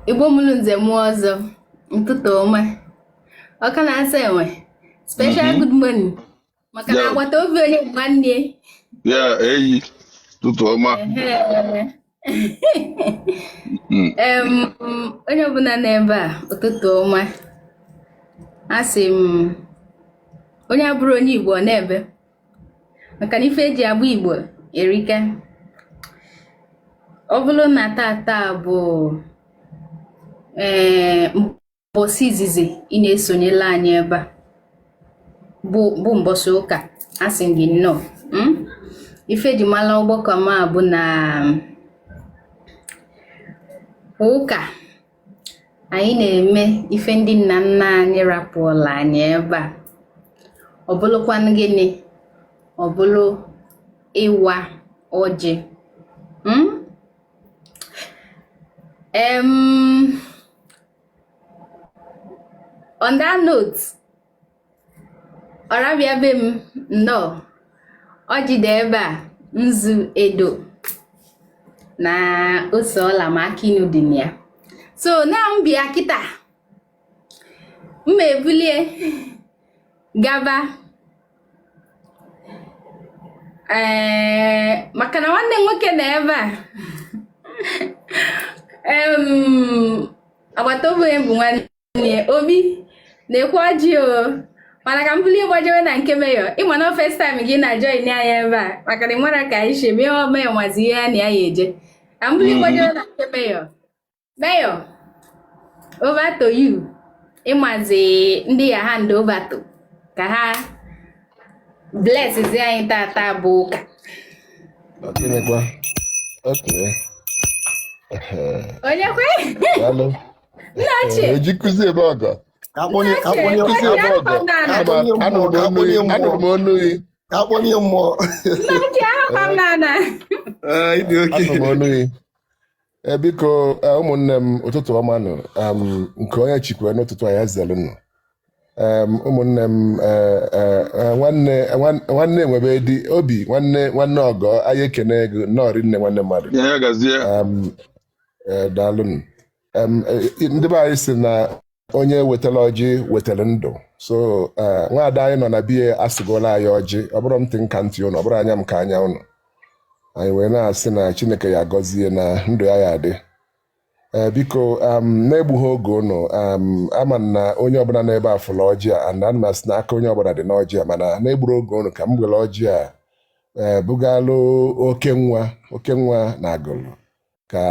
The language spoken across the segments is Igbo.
Igbo mụrụ nze mụọ ọzọ ụtụtụ ọma ọka na-asa enwe special mhm. good morning maka na agbata obi onye nwanne ya eyi tụtụ ọma mm. onye ọbụla n'ebe a ụtụtụ ọma asị m onye abụrụ onye Igbo nọ n'ebe maka na ife eji agba Igbo erika ọ bụlụ na tata bụ ee eh, mbọsị izizi ị na-esonyela anyị ebe a bụ mbọsị ụka asị gị nnọọ hmm? ife eji mala ọgbakọ ọma a bụ na ụka anyị na-eme ife ndị nna nna anyị rapụọla anyị ebe a ọ bụlụkwanụ gịnị ọ bụlụ ịwa ọjị hmm? on that note ọrabịa be m nnọọ ọjị dị ebe a nzu edo na ose ọla ma akị inu dị na ya so na m bịa kịta mma ebulie gaba ee maka na nwanne nwoke nọ ebe a agbata obi onye bụ nwanne obi na-ekwe ọjị o mana ka m bulie gbajewe na nke Mayor ịma na first time gị na join anyị ebe a maka na ịmara ka anyị si mee o Mayor mazi ihe ya na ya ya eje ka m bulie mm-hmm. gbajewe na nke Mayor Mayor over to you ịmazi ndị ya hand over to ka ha bless zi anyị tata bụ ụka onye kwe Nna ochie. Eji kụzi ebe ọgọ. Akpọnye akpọnye kụzi ebe ọgọ. Anụrụ m onu gị. Akpọnye mmụọ. Nna ochie ahụkwa m n'ala. Anụrụ m onu gị. Eh, biko eh, ụmụnne m ụtụtụ ọma nụ nke onye chikwa n'ụtụtụ a ya zelu nụ ụmụnne m eh, nwanne enwebe di obi nwanne nwanne ọgọ anyị ekene ego nọọrị nne nwanne mmadụ Ee, daalụ m. Em, e, ndị be anyị sị na onye wetara ọjị wetara ndụ so eh, nwaada anyị nọ na biya asịgola anyị ọjị ọ bụrụ m ntị ka ntị ụnụ ọ bụrụ anya m ka anya ụnụ anyị wee na-asị na Chineke ya agọzie na ndụ ya ya adị ee biko em, na-egbughị oge ụnụ em, ama m na onye ọbụla n'ebe a fụrụ ọjị a and ana m asị na aka onye ọbụla dị n'ọjị a mana na-egbughị oge ụnụ ka m were ọjị a ee bugalụ oke nwa oke nwa na Agụlụ ka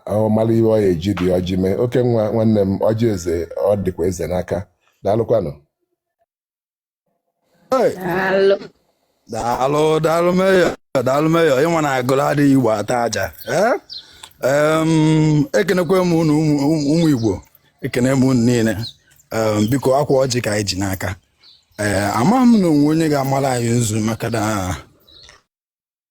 ọ mara ihe ọ ya eji dị ọjị mee oke nwa nwanne m ọjị eze ọ dịkwa eze n'aka daalụkwanụ Hey, Daalụ. daalụ daalụ meyọ daalụ meyọ ị ma na Agụlụ adịghị igbo ata aja Eh? Em, ekenekwa m unu ụmụ ụmụ igbo ekene m unu niile Em, biko ọkwa ọjị ka anyị ji n'aka ee amaghị m na o nwee onye ga-amara anyị nzu maka na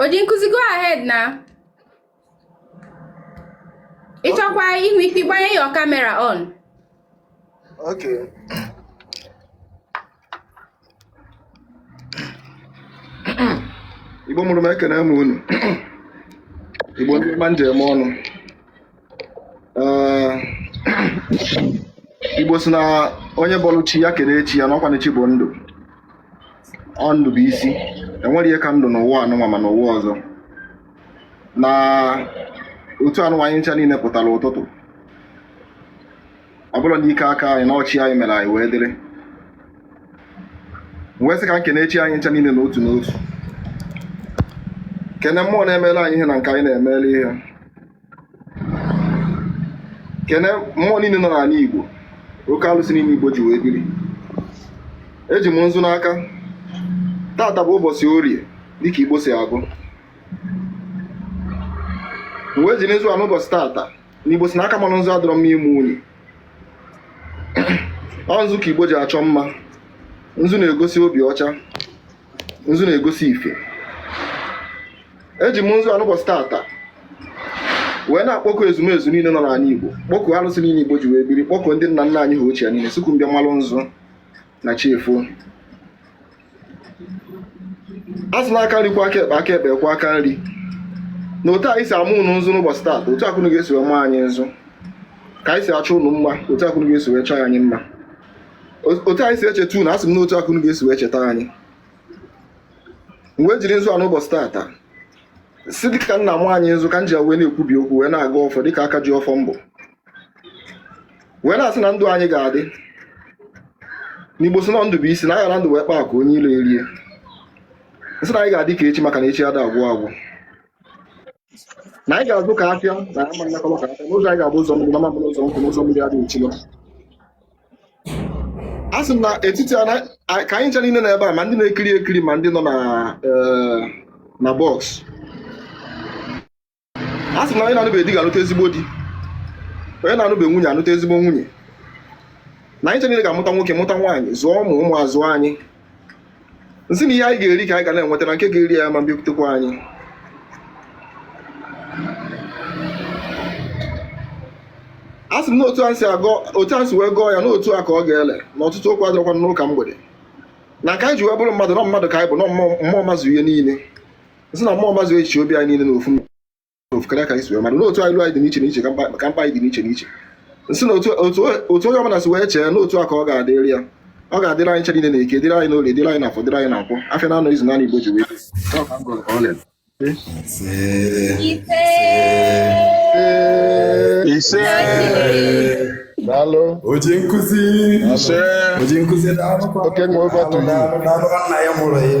Onye nkuzi go ahead na. Ị chọkwaa i nwee ike gbanye your camera on. Okay. Igbo mụrụ m ekene m unu. Igbo ndị ọma ndeewo nụ. igbo si na onye bọlụ chi ya kene chi ya na ọkwanụ chi bụ ndụ ọ ndụ bụ isi enwerọ ihe ka ndụ n'ụwa anụnwa ma n'ụwa ọzọ na otu anụnwa anyị ncha niile pụtara ụtụtụ ọ bụrọ n'ike aka anyị na ọ chi anyị mere anyị wee dịrị m wee sị ka m kene chi anyị ncha niile n'otu n'otu kene mmụọ na-emere anyị ihe na nke anyị na-emere ihe kene mmụọ niile nọ n'ala Igbo oke alụsị niile Igbo ji wee biri eji m nzu n'aka tata bụ ụbọchị orie dịka Igbo si agụ m wee jiri nzu a n'ụbọchị tata na Igbo sị na aka marụ nzu adịrọ mma ime unyi ọ nzu ka Igbo ji achọ mma nzu na-egosi obi ọcha nzu na-egosi ife eji m nzu a n'ụbọchị tata wee na-akpọkọ ezumezu niile nọ n'ala Igbo kpọkọ arụsị niile Igbo ji wee biri kpọkọ ndị nna nna anyị ha ochie niile sị ka ụnụ bịa malụ nzu na chi efo a sị na aka nri kwọọ aka ekpe aka ekpe kwọọ aka nri na otu anyị si ama ụnụ nzu n'ụbọchị taata otu a ka ụnụ ga-esi wee maa anyị nzu ka anyị si achọ ụnụ mma otu a ka ụnụ ga-esi wee chọọ anyị mma otu anyị si echeta unu asị m na otu a ka unu ga-esi wee cheta anyị m wee jiri nzu a n'ụbọchị taata si dịka nna m anyị nzu ka m ji wee na-ekwubi okwu wee na-agọ ọfọ dịka aka ji ọfọ m bụ wee na-asị na ndụ anyị ga-adị na Igbo sị na ndụ bụ isi na a ghara ndụ wee kpaa akụ onye ilo erie m sị na anyị ga-adị ka echi maka na echi ada agwụ agwụ na anyị ga-azụ ka afịa na ama nakọrọ ka afịa na ụzọ anyị ga-abụ ụzọ mmiri na ọ ma bụrụ ụzọ nkụ na ụzọ mmiri adịghị echi ilo a sị m na etiti a na- a- ka anyị ncha niile nọ ebe a ma ndị na-ekiri ekiri ma ndị nọ na eh, na box a sị m na onye na-anụbeghị di ga-anụta ezigbo di onye na-anụbeghị nwunye anụta ezigbo nwunye na anyị ncha niile ga-amụta nwoke mụta nwaanyị zụọ ụmụ ụmụ azụọ anyị nsị na ihe anyị ga-eri ka anyị ga na-enweta na nke ga-eri anyị ma bịakwutekwa anyị a sị m na otu anyị agọ otu anyị si wee gọọ ya n'otu a ka ọ ga-ele na ọtụtụ okwu adịrọkwa n'ụka mgbede na nke anyị ji wee bụrụ mmadụ na mmadụ ka anyị bụ na mmụọ mazu ihe niile nsị na mmụọ mazu echiche obi anyị niile n'ofu ofu karịa ka anyị si wee mara n'otu iru anyị dị n'iche n'iche ka mkpa anyị dị n'iche n'iche nsị na otu onye ọbụla si wee chee n'otu a ka ọ ga-adịrị ya ọ ga-adịrị anyị ncha na eke dịrị anyị n'orie dịrị anyị n'afọ dịrị anyị na nkwọ afịa na anọ izu na anọ igbo ji wee ise daalụ onye nkụzi ise onye nkụzi daalụ oke nwe ụbọchị nna ya mụrụ ya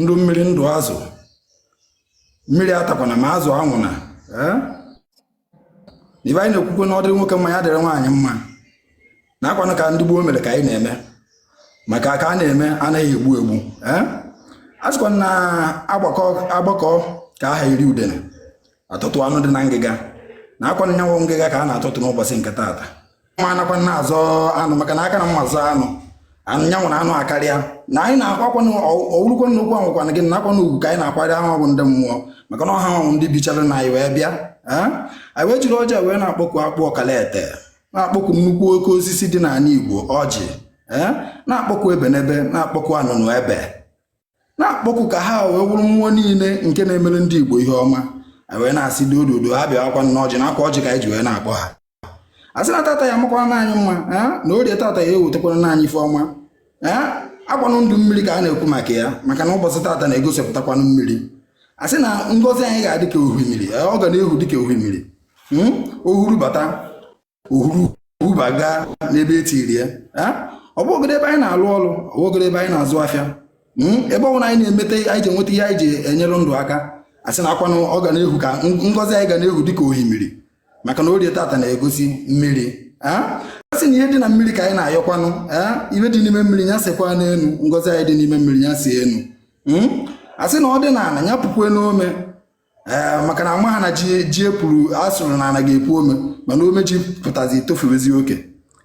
ndụ mmiri ndụ azụ mmiri atakwana ma azụ anwụna eh? ife anyị na-ekwukwe na ọ dịrị nwoke mma ya dịrị nwaanyị mma na akwanụ ka ndị gboo mere ka anyị na-eme maka ka a na-eme anaghị egbu egbu eh? a sịkwa na agbakọọ ka aha iri udene atọtuo anụ dị na ngịga na akwa nya wụ ngịga ka a na-atọtu n'ụbọsị nke taata ma anakwana azọ anụ maka na aka na mma azọ anụ nya wụrụ anụ akarịa na anyị na-akwakwa ọ wụrụkwa nnukwu anwụkwana gị nakwa na ugwu ka anyị na-akwanyere ha bụ ndị mmụọ maka na ọ ha wụ ndị bichara na anyị wee bịa anyị wee jiri ọjị wee na-akpọku akpụ okalete na-akpọku nnukwu oke osisi dị n'ala Igbo ọjị na-akpọku ebenebe na-akpọku anụnụebe na-akpọku ka ha wee wụrụ mmụọ niile nke na-emere ndị Igbo ihe ọma anyị wee na-asị dododo ha bịawakwa na ọjị na akwa ọjị ka anyị ji wee na-akpọ ha asị na tata ya makwa na anyị mma na orie tata ya ewetakwara na anyị ife ọma akwanụ ndụ mmiri ka a na-ekwu maka ya maka na ụbọchị tata na-egosipụtakwanụ mmiri asị na ngozi anyị ga-adị ka ohimiri ọ ga na-ehu dị ka ohimiri hmm? o huru bata o huru baga n'ebe etiri ya ọ bụgodu ebe anyị na-alụ ọrụ ọ bụgodu ebe anyị na-azụ afịa hmm? ebe ọbụla anyị na-emeta anyị ji enweta ihe anyị ji enyere ndụ aka asị na akwanụ ọ ga na-ehu ka ngozi anyị ga na-ehu dị ka ohimiri maka na orie tata na-egosi mmiri a sị na ihe dị na mmiri ka anyị na-ayọkwanụ ihe dị n'ime mmiri ya sekwa n'elu ngozi anyị dị n'ime mmiri ya see enu hmm? a sị na ọ dị n'ala ya pukwe n'ome ee maka na ama ha na ji epuru asụrụ na ana ga-epu ome mana ome ji pụtazi etofuwezi oke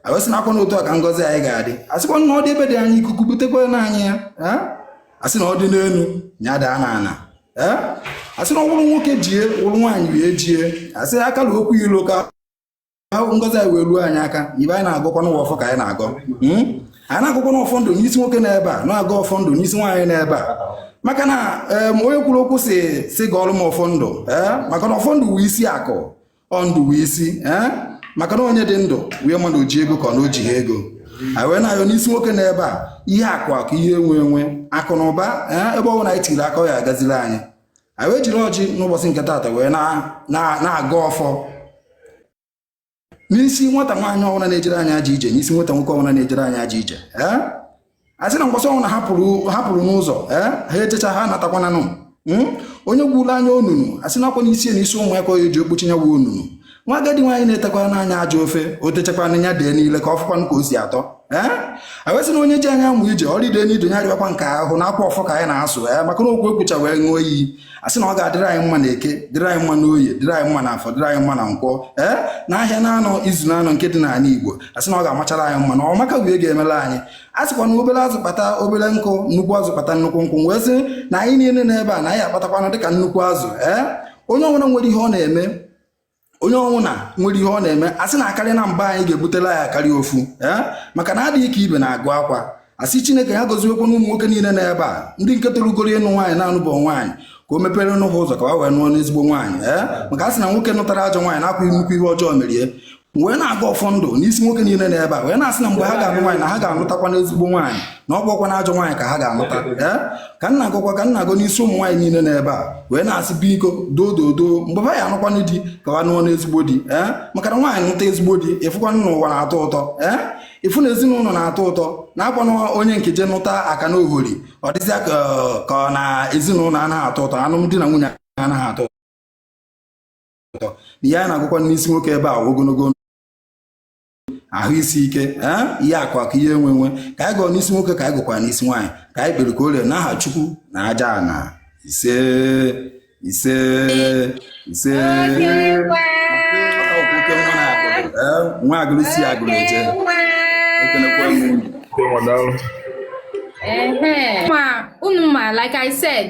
a wee sị na akwa na otu a ka ngozi anyị ga-adị asịkwa na ọ dị ebe dị anya ikuku butekwara anyị ya asị na ọ dị n'elu ya daa na ana asị na ọ wụrụ nwoke jie wụrụ nwaanyị wee jie asị aka na okwu ilo ka ngozi anyị wee ruo anyị aka ibe anyị na-agọkwanụ wụ ọfọ ka anyị na-agọ hmm? anyị na-agọkwanụ ọfọ ndụ n'isi nwoke n'ebe a na-agọ ọfọ ndụ n'isi nwaanyị n'ebe a maka na onye kwuru okwu sị gọọlụ m ọfọ ndụ maka na ọfọ ndụ wụ isi akụ ọ ndụ wụ isi ee eh? maka na onye dị ndụ wee ma na o ji ego ka ọ na o jihọ ego anyị wee na-ayọ n'isi nwoke n'ebe a ihe akụ akụ ihe enwe enwe akụ na ụba eh? ebe ọ bụla anyị tiri aka ya agaziri anyị anyị wee jiri ọjị n'ụbọchị nke taata wee na-agọ ọfọ n'isi nwata nwaanyị ọbụla na-ejere anyị aja ije n'isi nwata nwoke ọbụla na-ejere anyị aja ije ee eh? a sị na mbọsị ọbụna ha pụrụ n'ụzọ eh? ha ejecha ha natakwananụ hmm? onye gwuru anyị onunu a sị na ọ kwa n'isi ya na isi ụmụ ya ka ọ ya-eji ekpuchi nya wụ onunu nwa agadi nwaanyị na-etekwara anyị ajọ ofe o techakwana ya dee n'ile ka ọ fụkwanụ ka o si atọ eh? a wee sị na onye ji anyị amụ ije ọrịa ide n'ido ya rịakwa nke ahụ na ọ kwa ọfọ ka anyị na-asụ ya eh? maka na okwu e kwucha wee ṅụọ iyi a sị na ọ ga-adịrị anyị mma na eke dịrị anyị mma na oye dịrị anyị mma na afọ dịrị anyị mma na nkwọ ee n'ahịa na-anọ izu na-anọ nke dị n'ala igbo a sị na ọ ga-amachara anyị mma na ọ maka wee ga-emere anyị a sịkwa na obere azụ kpata obere nkụ nnukwu azụ kpata nnukwu nkụ wee sị na anyị niile n'ebe a na anyị akpatakwanụ dịka nnukwu azụ ee onye ọbụla nwere ihe ọ na-eme onye ọbụna nwere ihe ọ na-eme a sị na akarị na mba anyị ga-ebutela ya akarị ofu eh? maka na adịghị ka ibe na-agụ akwa asị chineke ya goziekwanụ ụmụ nwoke niile n'ebe a ndị nke tolugoro ịnụ nwaanyị na-anụbọ nwaanyị ka o meperenụ ha ụzọ ka ha wee nụọnụ ezigbo nwaanyị ee eh? maka a sị na nwoke nụtara ajọ nwaanyị na ọ kwa nnukwu ihe ọjọọ mere ya wee na-agọ ọfọ ndụ n'isi nwoke niile n'ebe a wee na-asị na mgbe ha ga-anụ nwaanyị na ha ga-anụtakwanụ ezigbo nwaanyị na ọ bụkwana ajọ nwaanyị ka ha ga-anụta ee ka m na-agọkwa ka m na-agọ n'isi ụmụ nwaanyị niile n'ebe a wee na-asị biko doo doo doo mgbe ha ya-anụkwanụ di ka ha nụọnụ ezigbo di ee maka na nwaanyị nụta ezigbo di ị fụkwanụ na ụwa na-atọ ụtọ ee ị fụ na ezinụlọ na-atọ ụtọ na ọ kwanụ onye nke je nụta akanohori ọ dịzịa ka ka ọ na ezinụlọ anaghị atọ ụtọ alụmdi na nwunye anaghị atọ ụtọ na ihe anyị na-agọkwa n'isi nwoke ebe a ogologo ahụ isi ike ihe akụ akụ ihe enwe enwe ka anyị gọọ n'isi nwoke ka anyị gọkwara n'isi nwaanyị ka anyị kpere ka o rere n'aha chukwu na aja ana ise ise ise nwa agụrụ si agụrụ eje ekenekwa m unu ma unu ma like i said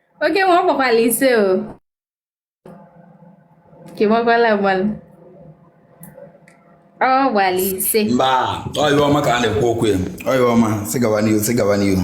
oke nwa ọ gbakwala ise o ka gbakwala agbalị ọ gbara ise mba ọyịwa ọma ka a na-ekwu okwu ya ọyịwa ọma sị gawa n'ihu sị gawa n'ihu